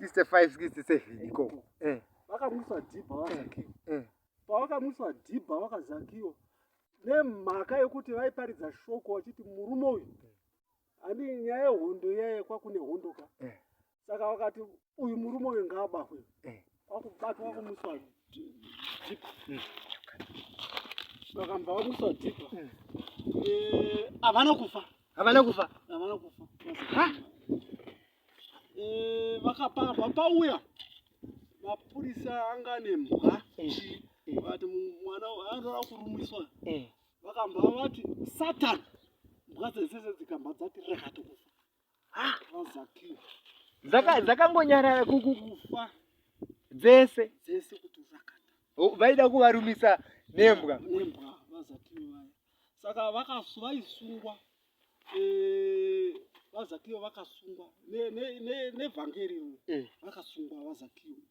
65 67 ikoko eh. vakamusa dhibha vakazakiwa eh. pavakamusa dhibha vakazakiwa nemhaka yekuti vaiparidza shoko vachiti murume uyu ani nyaya yehondo iyaye kwakune hondo ka eh. saka wakati uyu murume uyu ngaabahwe eh. wakubatwa wakumuswa jipa hmm. vakamba vamuswa jipa hmm. eh, havana kufa havana kufa havana kufa eh, vakapava pauya mapurisa anga nemhwa vati mwana anoda kurumwiswa vakamba vati satani mhwa dzese dzikamba dzati rekatokufa dzakangonyarara kukufa dzese dzese kuti urakata vaida kuvarumisa nembwa nembwa vazakiyo vaya saka vakasu vaisungwa eh, vazakiyo vakasungwa nevhangeri ne, ne, ne eh. vakasungwa vazakiyo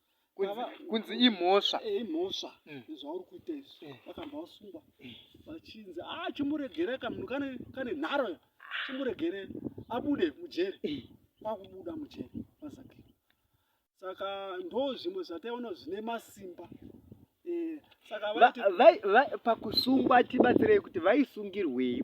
kunzi imhosva eh, imhosva mm. zvauri kuita izvi eh. vakabva vasungwa eh. vachinzi a ah, chimuregere kamunhu kane nharo chimuregere abude mujeri kwakubuda mujeri mazaki saka ndo zvimwe zvataiona zvine masimba saka pakusungwa tibatsirei kuti vaisungirwei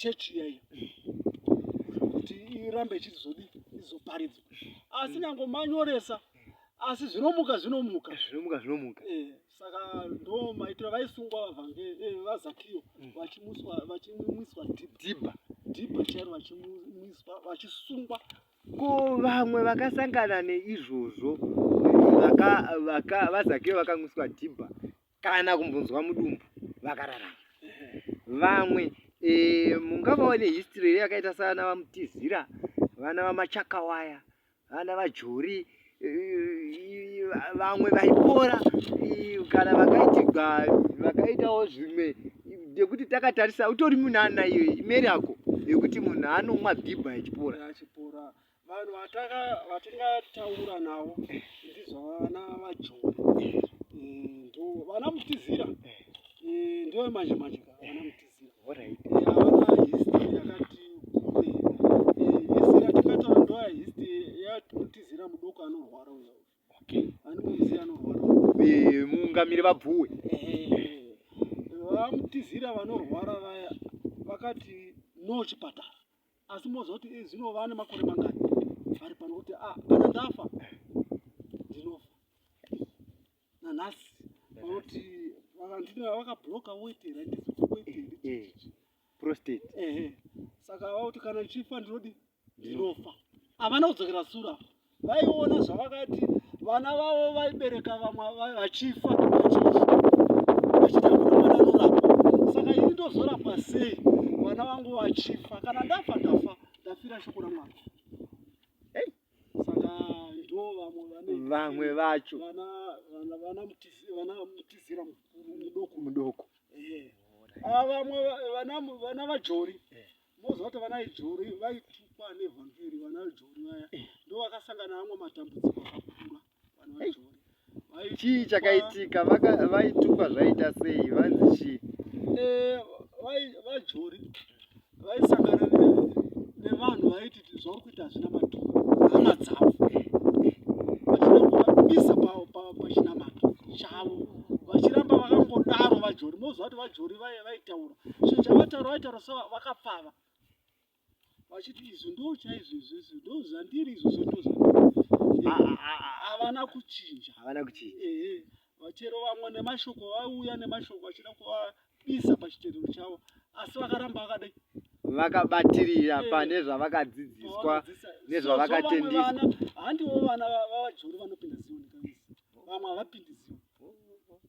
church iyayo kuti irambe ichizodi izoparidzwa asi nyango manyoresa asi zvinomuka zvinomuka zvinomuka zvinomuka eh, saka ndo maitiro vaisungwa vavange eh, vazakiyo mm. vachimuswa vachimwiswa dhibha dhibha chairo vachimwiswa vachisungwa ko vamwe vakasangana neizvozvo vaka vaka vazakiyo vakamwiswa dhibha kana kumbonzwa mudumbu vakararama vamwe e, mungavawo nehistory here yakaita savana vamutizira vana vamachakawaya vana vajori eh, vamwe vaipora eh, kana vakaitigwa vakaitawo zvimwe nekuti takatarisa utori munana iyo imeri yako yekuti munhu anomwa bhibha achipora vanhu vatingataura navo ndizvo vana vajoni eh, ndo vana mutizira eh, ndo manje manje ka vana mutizira havana eh, history yakati kure history yatingataura ndo history yamutizira mudoko anorwara uya anomuziva anorwara mungamiri vabvuwe vamutizira vanorwara vaya vakati no chipatara asi moziva kuti eh, zvino vane makore mangani vari pano kuti ah, kana ndafa ndinofa nanhasi vanoti vakabloka weti randisiweti saka vakuti kana ndichifa ndinodi ndinofa havana kudzokera sura vaiona zvavakati vana vavo vaibereka vamwe vachifa saka ini ndozorapa sei vana vangu vachifa kana ndafa ndafa ndafira shoko ramwana vamwe vacho mudoko eh. ah, vamwe vana vajori eh. moziva kuti vana ijori vaitukwa nevhangeri vana ijori vaya eh. ndo vakasangana amwe matambudziko akakura vana vajori chii chakaitika vaitukwa zvaita sei vanzi chii eh, vajori vaisangana nevanhu vaiti zvauri kuita hazvina matuko hama dzavo vachinakuvaisa pachinamato chavo vachiramba vakangodaro vajori moziva kuti vajori vaitaura zvinhu zvavataura vaitaura so vakapfava vachiti izvo ndo chaizvo izvozvo ndo zvandiri izvozvo ndo havana kuchinja havana kuchinja ehe vachero vamwe nemashoko vauya nemashoko vachida kuvabisa pachiterero chavo asi vakaramba vakadai vakabatirira eh, pane zvavakadzidziswa nezvavakatendiswa handiwo vana vavajori vanopinda zioni vamwe havapindi zioni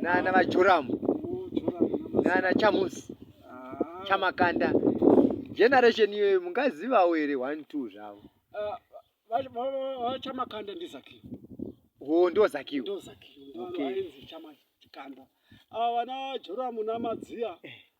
nana vajoramu nana chamusi ah. chamakanda generation iyoyo mungazivawo here one two zvavo vachamakanda ah, ndizakiwo ho ndo zakiwo ndo zakiwo okay. kanda ava ah, vana joramu namadziya eh.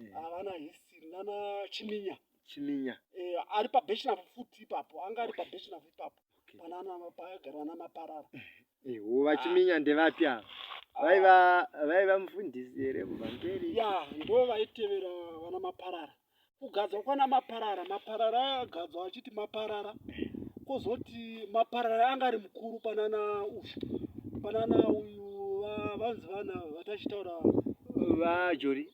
Eh. Havana history nana Chiminya. Chiminya. Eh, ari pa Beshnavu futi ipapo. Anga ari pa Beshnavu ipapo. Okay. Pana ana mapagara ana maparara. Eh, wo vachiminya ah. ndevapi ava? Ah. Vaiva vaiva mufundisi here kubva mberi? Ya, ndo vaitevera vana maparara. Kugadzwa kwana maparara, maparara agadzwa achiti maparara. Kozoti maparara anga ari mukuru panana ushu. Panana uyu vanzi vana vatachitaura vajori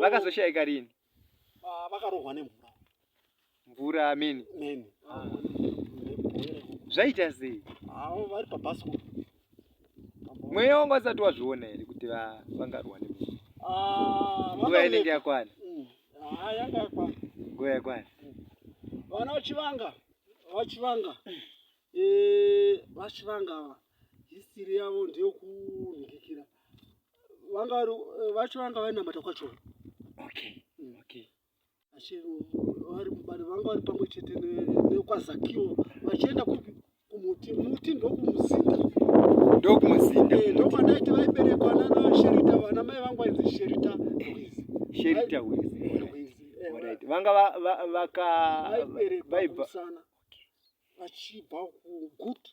vakazoshaika rini ah, vakarohwa nemvura mvura ameni meni ah. zvaita sei avo vari pabhasko mweya wanga usati wazviona here kuti vangarwa nemvura ah, nguva inenge yakwana mm. yanga yakwana nguva yakwana mm. vana vachivanga vachivanga eh, vachivanga ava hisiri yavo ndeyokunhikikira vanga vari eh, vacho vanga vainamata kwacho okay mm. okay asi vari mubani vanga vari pamwe chete nekwazakiwo vachienda kupi kumuti muti ndokumuzinda ndokumuzinda eh, ndokwadaiti vaiberekwa nana sherita vana mai vangu vainzi sherita wizi sherita wizi eh, vanga vaka vaibva vachibva kugutu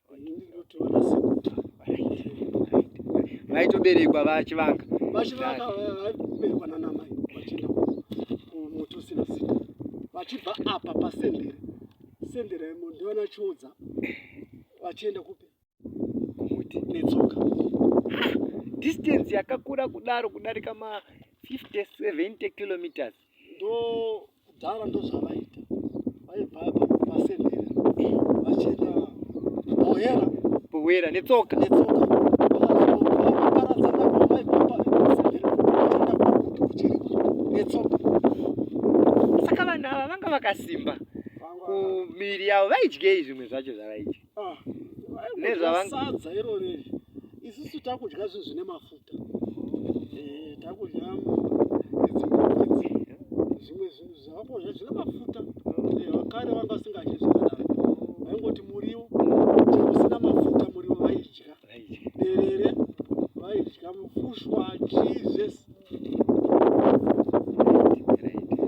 vaitoberekwa vachivanga vachivanga vaiberekwa nanamai vachienda kumuti usina zita vachibva apa pasendere sendere ndivana chiudza vachienda kupi kumuti netsoka distance yakakura kudaro kudarika ma 50 70 kilometers ndo kudhara ndozvavaita vaibva pasemhera vachienda bohera bohera netsoka netsoka saka vanhu ava vanga vakasimba kumiri yavo vaidyei zvimwe zvacho zvavaidya ah, nezvavasadza iro riri isusu takudya zvinhu zvine mafuta eh, takudya idzimbaidzi zvimwe zvinhu zvavakodya zvine mafuta eh, vakare vanga vasingadye zvakadaro vaingoti muriwo usina mafuta muriwo vaidya derere vaidya mufushwa jesus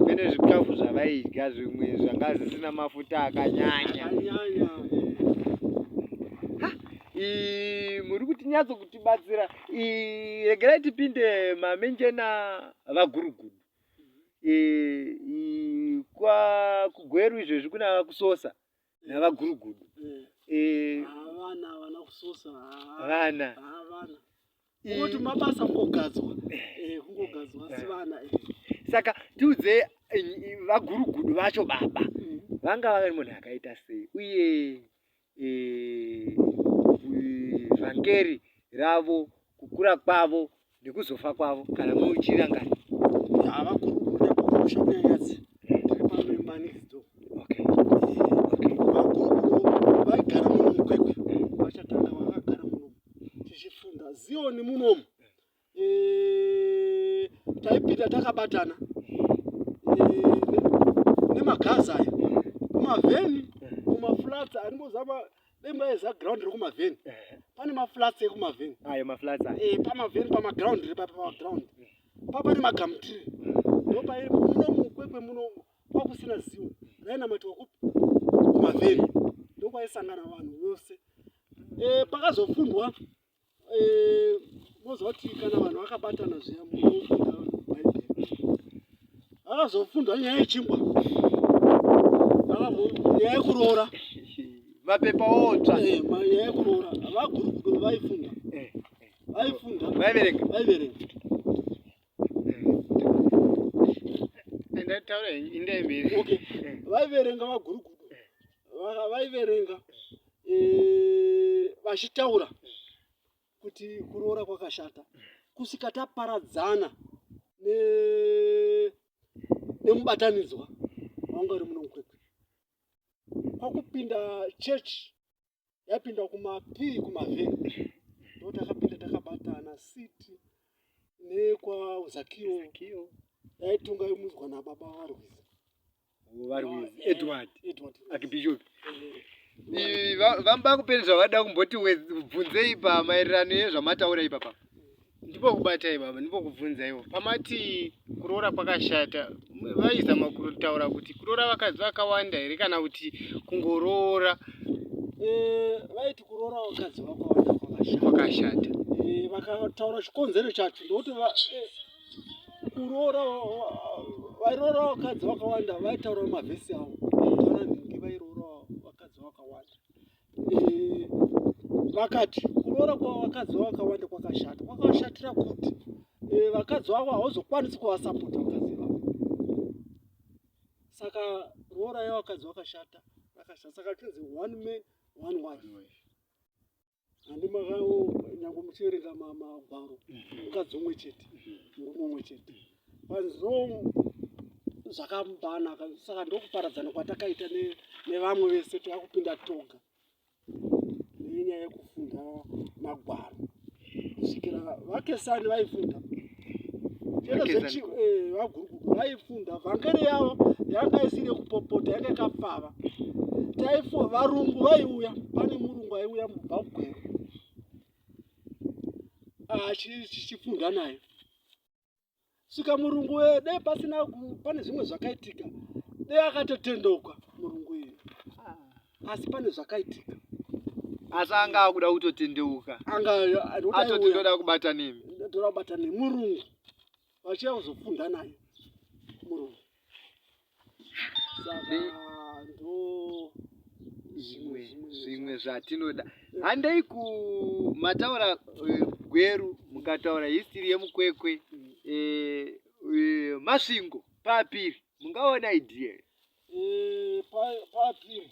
mene zvikafu zvavaidya zvimwe zvanga zvisina mafuta akanyanya muri kuti nyatso kutibatsira regerai tipinde mamenjena vagurugudu kwakugueru izvezvi kuna kusosa navagurugudu eh. Eh. vana vana kusosa vana kungoti mabasa kungogadzwa kungogadzwa asi vana saka tiudze vagurugudu vacho baba mm. vanga vave munhu akaita sei uye vhangeri ravo kukura kwavo nekuzofa kwavo kana muchirangana zioni munomu eh, taipinda takabatana eh, nemagazi aya kumavheni kumaflats aringozama Bemba is a ground reku maveni. Eh. Pane ma flats eku maveni. Ayo ma flats. Eh, pa maveni pa ma ground re pa pa ground. Pa pane ma gum tree. Ndo pa muno mukwekwe muno kwa kusina ziwo. Raina mati wakupi? Ku maveni. Ndo kwa isangana vanhu vose. Eh, pakazofundwa eh, mozoti kana vanhu vakabatana zviya akazofundwa nyaya yechingwa nyaya yekuroora mapepa otsva eh, nyaya yekuroora vagurukuru vaifunda eh, vaifunda vaiverenga vaiverenga vaiverenga vagurukudo vaiverenga eh, vachitaura kuti kuroora kwakashata kusvika taparadzana nemubatanidzwa wanga uri muno mukwekwe kwakupinda chechi yapinda kumapii kumavheni ndo takapinda takabatana siti nekwazakiwo yaitonga yomudzwa nababa varwizi varwizi ah, edward edward akibishopi eh. vamba kupeni zvavada kumboti bvunzei pamaererano ezvamataura ipapa Ndipokubatai baba, ndipokubvunzaiwo. Pamati kuroora kwakashata, vaizama kutaura kuti kuroora vakadzi vakawanda here kana kuti kungoroora? Eh, vaiti kuroora vakadzi vakawanda kwakashata. Eh, vakataura chikonzero chacho ndokuti eh, kuroora vairoora vakadzi vakawanda vaitaura mavhesi avo. Vairoora vakadzi vakawanda. eh, vakati kuroora kwavakadzi vakawanda kwakashata kwakashatira kuti eh, vakadzi vavo hauzokwanisi kuvasapota vakadzi vavo saka roora yavakadzi vakashata vakashata saka tinzi one man one wife handi makawo nyange muchiverenga magwaro mukadzi umwe chete murume umwe chete panzou zvakabanaka saka ndokuparadzana kwatakaita nevamwe vese takupinda toga nenyaya yekufunda magwaro kusvikira vakesani vaifunda eh, vagurukuku vaifunda vhangeri yavo yanga isiri yekupopota yanga ikapfava taifo varungu vaiuya pane murungu aiuya mubhabhwero ah, achifunda nayo sika murungu uyo dai pasina pane zvimwe zvakaitika dai akatotendeuka murungu uyo ah. asi pane zvakaitika asi anga akuda kutotendeuka angaatoti ndoda kubata nemi ndoda kubata nemi murungu vachiya kuzofunda naye murungu zvimwe zvatinoda handei ku mataura eh, gweru mukataura histiri yemukwekwe eh, eh, masvingo papiri mungaona idea papiri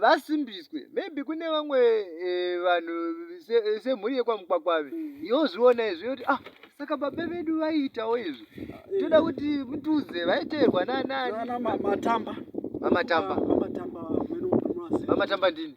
vasimbiswe va, maybe kune vamwe eh, vanhu eh, semhuri se yekwamukwakwavi mm. yozviona izvi yoti ah saka baba vedu vaiitawo izvi eh. toda kuti mutudze vaiteerwa nanani mamatamba mamatamba mamatamba ndini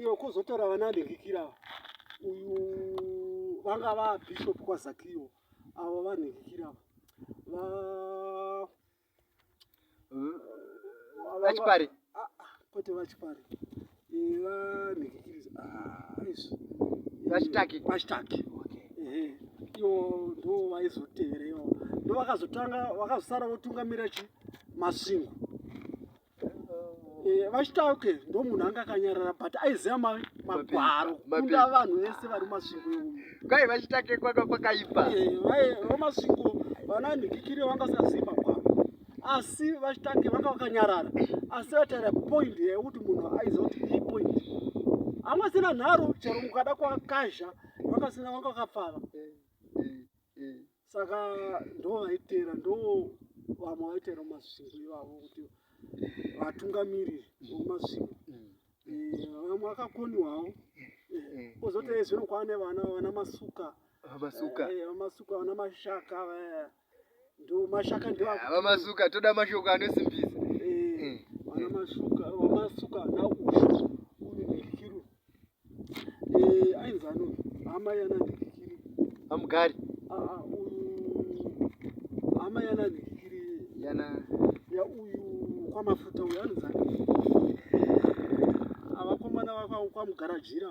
iyo kuzotora vana ndingikira uyu vanga vabishop kwazakio avo vanhikikira vachipari ah, ah, kwete vachipari vachitake vachitake ivo ndo vaizotevera ivo ndo vakazotanga vakazosara votungamira chi masingo eh, vachitake ndo munhu anga akanyarara but aiziva magwaro kunda vanhu vese vari masingo ivo kwai vachitake kwaka kwakaipa eh, vamasingo vana nhikikiri vangasaziva asi vachitake vanga vakanyarara asi vataira point yekuti munhu aizoti i point amwe sina nharo chero mukada kwakazha vakasina vanga vakapfava saka ndo vaiteera ndo vamwe vaiteera mumasvingo ivavo kuti vatungamiriri vomasvingo eh, vamwe vakakoniwawo eh, kozoti ezvino kwaane vana vana masuka vamasuka eh, vana mashaka vaya ndomashaka ndava masuka toda mashoko anosimbisa eh, ana masuka masuka na ushu uyu ndikiru eh ainzi ano hama yana ndikiru amugari ah, ah uyu hama yana ndikiru yana ya uyu kwa mafuta uyu anzi ava komana vakwa kwa mugarajira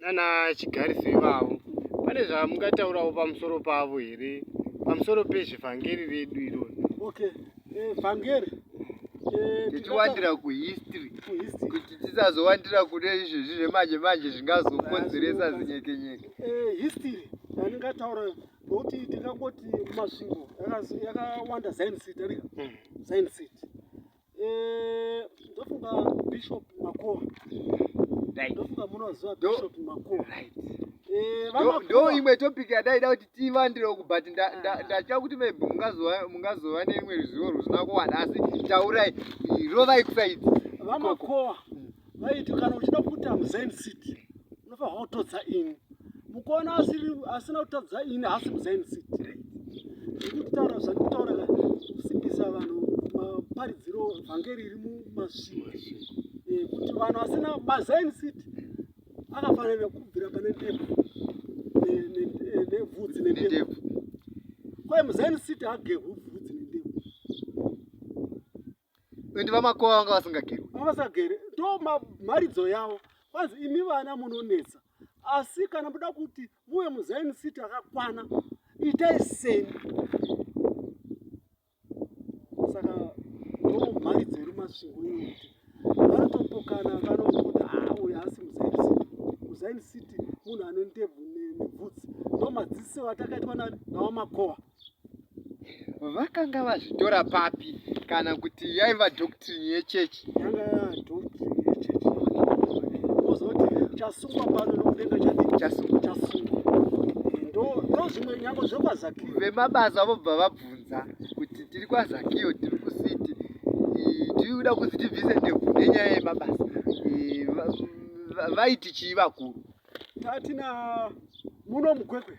nana chigarisi ivavo pane zvamungataurawo pamusoro pavo here pamusoro pezvevhangeri redu irori okay eh, vhangeri eh, tichiwandira kuhistory kuti tisazowandira kune izvezvi zvemanje manje zvingazokonzeresa zinyekenyeke eh, history yandingataura nokuti ndingangoti masvingo yakawanda zion city rika zion city Eh, ndofunga bishop makoa ndofunga munoziva bishop makoa eh, ndo imwe topic yadaida kuti tivandirewo but ndatya kuti maybe mungazova neimwe ruzivo rwusina kuwana asi taurai rovai kusaidi vamakoa vaiti kana uchida kuita muzain city unofanirwa kutodza ini mukuona asiri asina kutadza ini haasi muzain city ndikutaura zvandikutaura ka kusimbisa vanhu maparidziro vhangeri iri mumasvii eh, kuti vanhu asina mazain city akafanira kubvira pane ndebvu nevhudzi nendebvu kwaye muzain city agehubvudzi nendebvu and vamakowa vanga vasingageri vasagere ndo mharidzo yavo kwanzi imi vana munonetsa asi kana muda kuti muve muzaini city akakwana itai seni saka ndo mharidzo iri masvingo iyo kuti vanotopokana vanokuti haa ah, uyo asi muzaini city muzaini city munhu ane ndebvu nebvudzi ndo madziso atakaitwa nani navamakowa vakanga vazvitora papi kana kuti yaiva doctrine yechurch chasungwa pano nokudenga chasungwa chasungwa ndozvimwe nyango zvekwazaki vemabasa vobva vabvunza kuti tiri kwazakio tiri kusiti tiri kuda kuzi tibvise ndebvu nenyaya yemabasa vaiti chii vakuru tatina muno mukwekwe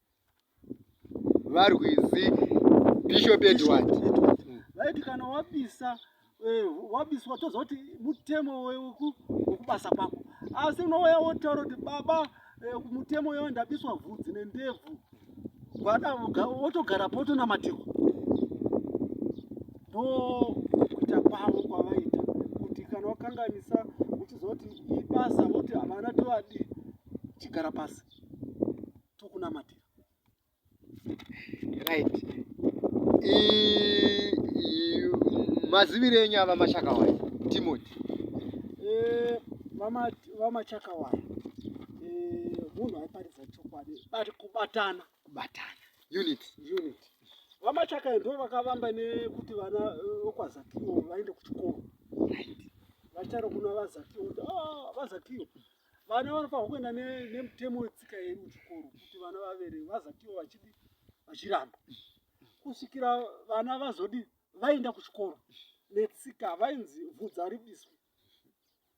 varwizi bishop edward vaiti kana wabisa eh, wabiswa toziva kuti mutemo wekubasa kwako asi unouya wotaura kuti baba eh, mutemo uyo ndabiswa vhudzi nendebvu gwada wotogara potonamatirwa ndo kuita kwavo kwavaita kuti kana wakanganisa uchizoti ibasa voti havana tovadii chigara pasi tokunamatira right mazivire enyu ava machakawaya timoti eh, vamachakawaya eh, munhu aiparidza chokwadi bati kubatana kubatana unit unit vamachakaya ndo vakavamba nekuti vana eh, vokwazakiwo vaende kuchikoro vacharo kuna vazakiwo kuti ah, vazakiwo vana vanofanirwa kuenda nemutemo wetsika yedu kuchikoro kuti vana vavere vazatiwo vachidi vachiramba kusvikira vana vazodi vaenda kuchikoro netsika vainzi vhudza ribiswe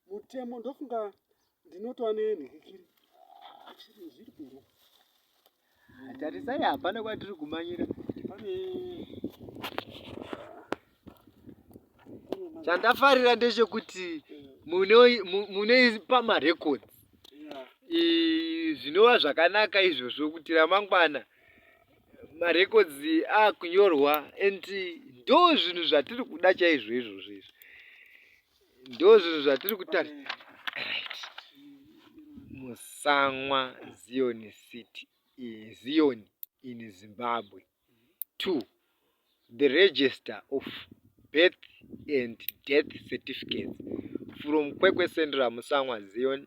mutemo ndofunga ndinotova nenhikiri zviri kuroa Tarisai hapana kwatiri kumanyira. Pane chandafarira ndechekuti mune pamarecords zvinova zvakanaka izvozvo kuti ramangwana marecords akunyorwa and ndo zvinhu zvatiri kuda chaizvo izvozvo izvi ndozvinhu zvatiri kutarisa right musamwa zion city zion in zimbabwe two the register of birth and death certificates from kwekwe central musamwa zion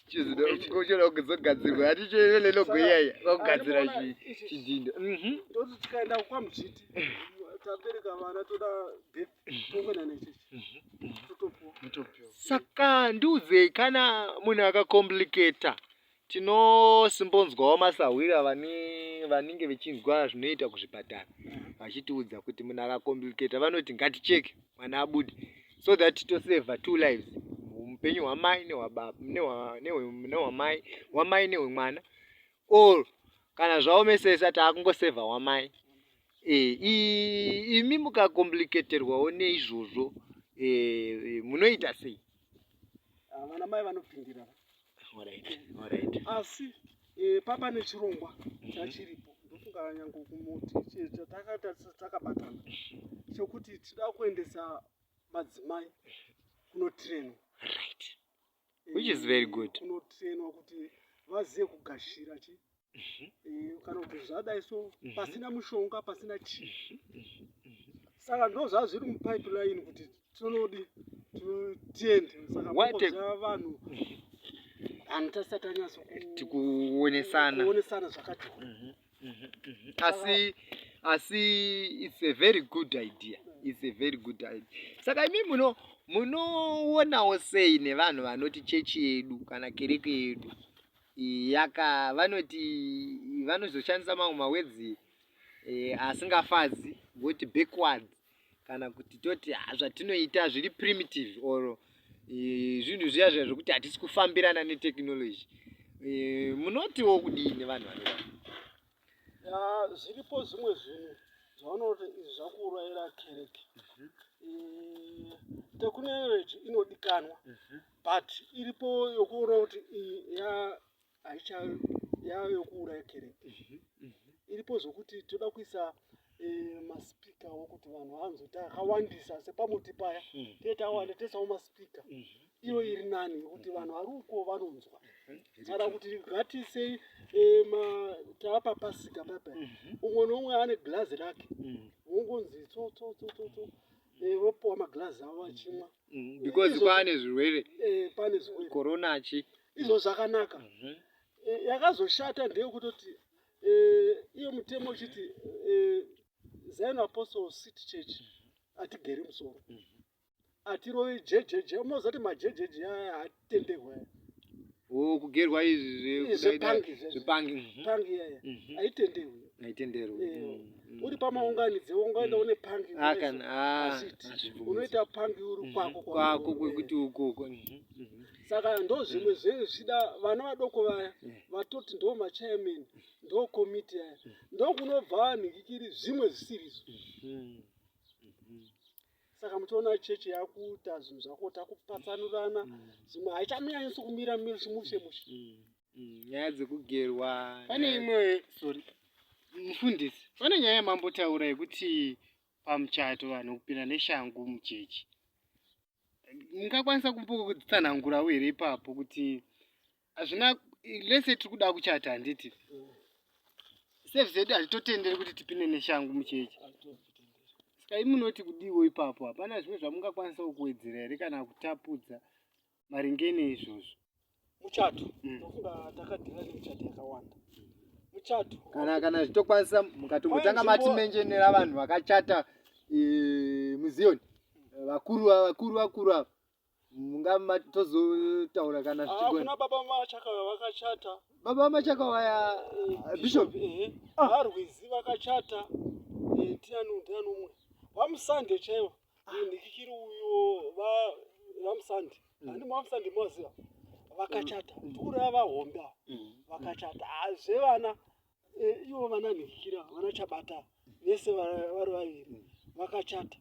Chizido kuchera kuzogadzirwa ati chero lelo goyaya kugadzira chi chidindo. Mhm. Ndoti tikaenda kwa mjiti tabereka vana toda birth tongo na nechi. Totopo. Totopo. Saka nduze kana munhu aka complicator tinosimbonzwawo masahwira vani vanenge vechinzwa zvinoita kuzvipatara vachitiudza kuti munhu aka complicator vanoti ngaticheke. mwana abude so that toseva two lives upenyu hwamai nehwamai hwamai nehwemwana or kana zvaomesesa taakungoseva wamai eh, imi mukakompliketerwawo neizvozvo eh, munoita sei ah, vanamai vanopindira asi eh, papa nechirongwa mhm. chachiripo ndofunga nyange kumuti takabatana chekuti tida kuendesa madzimai kunotrainwa right which is very good kunotrainwa kuti vazive kugashira chii kana kuti zvadai so pasina mushonga pasina chii saka ndozvaa zviri mupipeline kuti tinodi tiende saka vanhu vanhu tasati tanyatso tikuonesana kuonesana zvakati mhm, mhm, mhm. asi asi it's a very good idea it's a very good idea saka imi muno munoonawo sei nevanhu vanoti chechi yedu kana kereke yedu Yaka vanoti vanozoshandisa mamwe mawedzi e, asingafadzi voti backward kana kuti toti ah, zvatinoita zviri primitive or e, zvinhu e, zviya zviya zvekuti hatisi kufambirana netechnology e, munotiwo kudini vanhu vanodaro zviripo zvimwe zvinhu zvavanoti izvi zvakuurayira kereke mhm. eh, technology inodikanwa mhm. but iripo yokuona kuti iyi yaicha yayokuuraya kereke mhm. iripo zvokuti toda kuisa eh, maspeaker wokuti vanhu vanzoti akawandisa sepamuti paya mm. tee tawanda tesawo maspeaker mm -hmm iyo iri nani nekuti vanhu vari uko vanonzwa kana kuti ngatisei eh, taapa pasika papa mhm. umwe noumwe ane glazi rake mhm. wongonzi tsotsotsotso eh, vopiwa maglazi avo vachimwa mhm. because kwaane zvirwere eh, pane zvirwere corona chi izvo zvakanaka yakazoshata ndeyekutoti eh, iyo mutemo uchiti eh, zion apostle city church hatigeri musoro hatirovi jejeje mozoti majejeje aya hatenderwa aya Oh, kugerwa izvi zve- Eh, zvepangi izvi. zvepangi mhm. pangi iyaya Mhm. haitenderwi haitenderwi Eh, Mm, mm. uri pamaunganidze ungaenda une pangi Ah, kana- ah, hazviiti. hazvibvumidzi. unoita pangi uri Mhm. kwako kwako kwekuti ukoko Mhm, mhm. saka ndo zvimwe zvenyu zvichida vana vadoko vaya vatoti ndo machairman ndo komiti yaya ndokunobva vanhikikiri zvimwe zvisirizo saka muchiona chechi yakuita zvinhu zvako takupatsanurana zvimwe haichamiyanyisi kumira mushe mushe nyaya dzekugerwa pane imwe sorry mufundisi pane nyaya yamambotaura yekuti pamuchato vanhu kupinda neshangu muchechi mungakwanisa kumbotsanangurawo here ipapo kuti hazvina lese tiri kuda kuchata handiti save zedu hazvitotenderi kuti tipinde neshangu muchechi saka imunoti kudiwo ipapo hapana zvimwe zvamungakwanisawo kuwedzera here kana kutapudza maringe neizvozvo muchato mm. ndofunga takadhira nemuchato yakawanda muchato kana kana zvitokwanisa mukatombotanga mati menjenera vanhu vakachata e, muziyoni vakuru vakuru vakuru ava mungama tozotaura kana ah, zvichigona ah, baba machaka vakachata baba machaka vaya eh, eh, bishop eh, ah. varwizi vakachata tinani tinani umwe vamusande chaivo ndichichiri uyo vamusandi mm. ani vamusandi moziva vakachata mm. ndikuri ava hombe ava mm. vakachata hazve ah, vana eh, ivo vana ndikikira vana chabata vese vari vaviri vakachata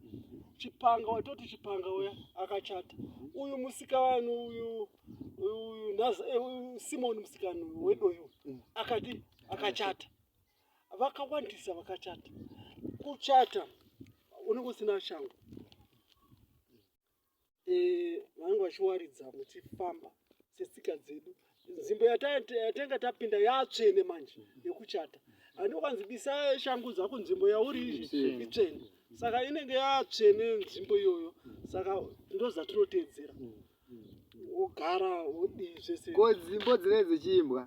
chipanga watoti chipanga uya akachata uyu musika vanhu uyu uyu eh, simoni musikani wedoyo akati akachata vakawandisa vakachata kuchata unenge usina shangu eh, vanenge vachiwaridza muchifamba setsika dzedu nzvimbo yatanga tapinda yatsvene manje yekuchata andokanzi bisa shangu dzako nzvimbo yauri itsvene saka inenge yatsvene nzvimbo iyoyo saka ndozatinoteedzera mm. wogara wodii zvese ko dzimbo dzinee dzechiimbwa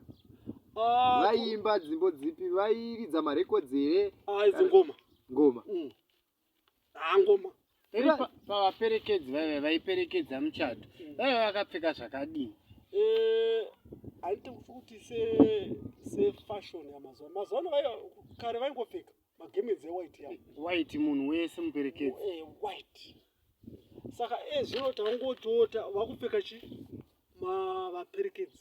ah, vaiimba dzimbo dzipi vairidza marekodzi here ah, idzi ngoma ngoma mm. ah, ngoma pavaperekedzi vaive vaiperekedza muchato mm. vaive vakapfeka zvakadii eh, haiti kuti sefashon yamazuva mazuva ano kare vaingopfeka magemenzi ewhite ya white munhu wese muperekedzi eh, white saka ezvino eh, tangotota vakupfeka chi mavaperekedzi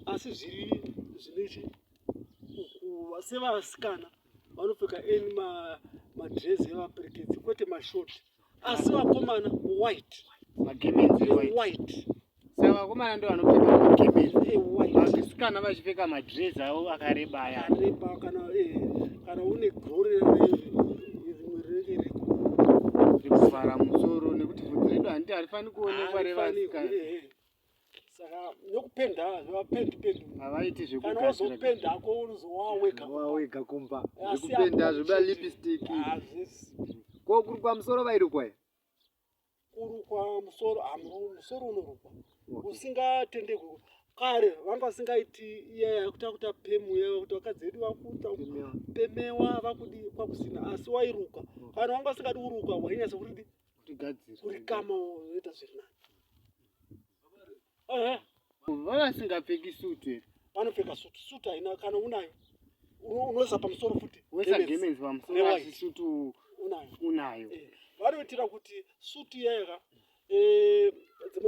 asi zviri zvine chi ukuva sevasikana vanopfeka eni madrezi evaperekedzi kwete mashoti asi vakomana white magemenzi white saka vakomana ndo vanopfeka magemenzi vasikana vachipfeka madress avo akareba aya akareba kana eh, kana une gore rekuvhara musoro nekuti vhudzi redu handiti harifani kuonekwa revasikana eh, eh. saka nokupenda havapendi pendi havaiti zvekukana wozopenda hako unozowawega wawega kumba zvekupenda zvoda lipstick ko kurukwa musoro vairukwa here kurukwa musoro musoro unorukwa usingatendekwe kare vanga vasingaiti iya yakuta kuta pemu iya kuti vakadzi vedu vakuta pemewa vakudi kwakusina asi wairuka kana vanga vasingadi kuruka wainyatsa kuti kurikama woita zviri nani vavasingapfeki suit here vanopfeka suit suit haina kana unayo unoisa pamusoro futi wesagemenzi pamusoro asi suit unayo unayo eh, vanoitira kuti suit yega eh,